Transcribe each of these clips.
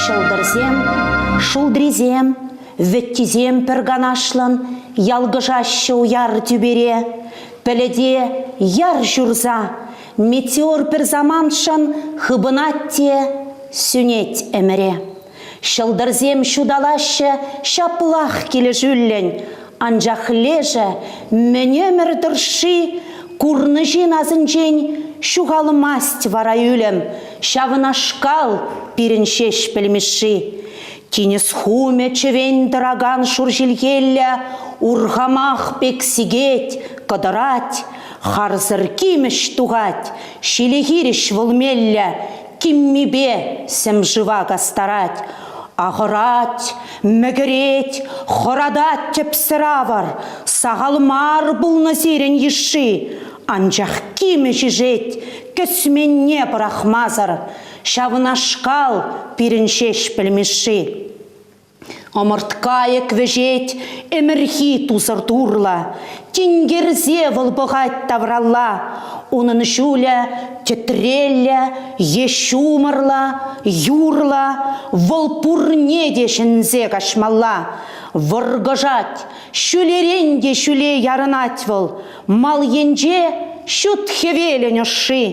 Ҫӑлтӑрсем, шултрисем, вӗттисем пӗр канашлӑн ялкӑшаҫҫӗ уяр тӳпере. Пӗлӗте яр ҫурса, метеор пӗр самантшӑн хыпӑнать те сӳнет ӗмӗре. Ҫӑлтӑрсем ҫуталаҫҫӗ ҫаплах килӗшӳллӗн, анчах лешӗ мӗн ӗмӗр тӑршши курнӑҫин асӗнчен ҫухалмасть вара ӳлӗм. Ҫавнашкал пирӗн Ҫеҫпӗл Мишши. Тинӗс хумӗ чӗвен тӑракан шур ҫилхеллӗ урхамах пек сикет, кӑтӑрать, харсӑр кимӗш тухать, ҫиле хирӗҫ вӑл меллӗ Киммипе сӗм шыва кастарать, ахӑрать, мӗкӗрет, хӑратать тӗпсӗр авӑр. Сахал мар пулнӑ сирӗн йышши, анчах кимӗ ҫишет, кӗсменне пӑрахмасӑр. Ҫавнашкал пирӗн ҫеҫ пӗлмешши. Ӑмӑрткайӑк вӗҫет ӗмӗрхи тусӑр турлӑ, Тинкерсе вӑл пӑхать тавралла. Унӑн ҫулӗ тӗтреллӗ е ҫумӑрлӑ, юрлӑ, Вӑл пурне те ҫӗнсе каҫмалла. Вӑркӑшать, ҫӳлерен те ҫӳле ярӑнать вӑл, Мал енче ҫут хӗвелӗн ӑшши.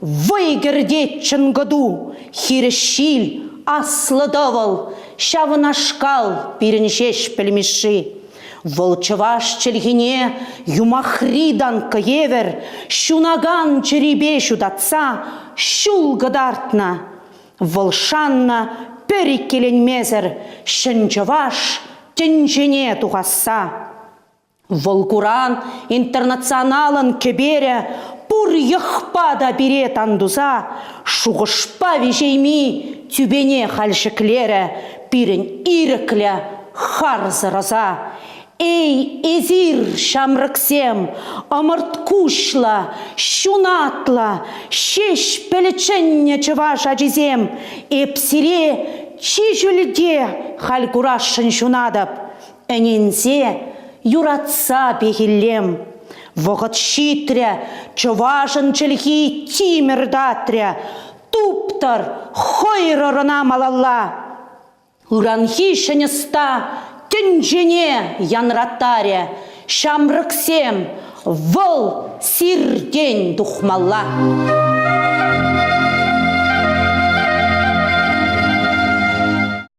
Вӑй кӗртет чӑнкӑту, хирӗҫ ҫил, аслӑ тӑвӑл, ҫавнашкал пирӗн ҫеҫ пӗлмешши. Вӑл чӑваш чӗлхине юмахри танкка евӗр ҫунакан чӗрипе ҫутатса ҫул кӑтартнӑ. Вӑл шаннӑ пӗр иккеленмесӗр ҫӗн чӑваш тӗнчене тухасса. Вӑл куран интернационалӑн кӗперӗ пур йӑхпа та пире тан туса шухӑшпа виҫейми тӳпене халь ҫӗклерӗ пирӗн ирӗклӗ харсӑр ӑса. Эй, эсир, ҫамрӑксем, ӑмӑрткуҫлӑ, ҫунатлӑ, ҫеҫ пӗлчӗннӗ чӑваш ачисем, эп сире чи ҫӳлте халь курасшӑн ҫунатӑп. Ӗненсе, юратса пехиллем. Вӑхӑт ҫитрӗ, чӑвашӑн чӗлхи тимӗр татрӗ. Туптӑр, хӑйрӑр ӑна малалла. Ыранхи ҫӗн ӑста тӗнчене янраттарӗ. Ҫамрӑксем, вӑл сиртен тухмалла.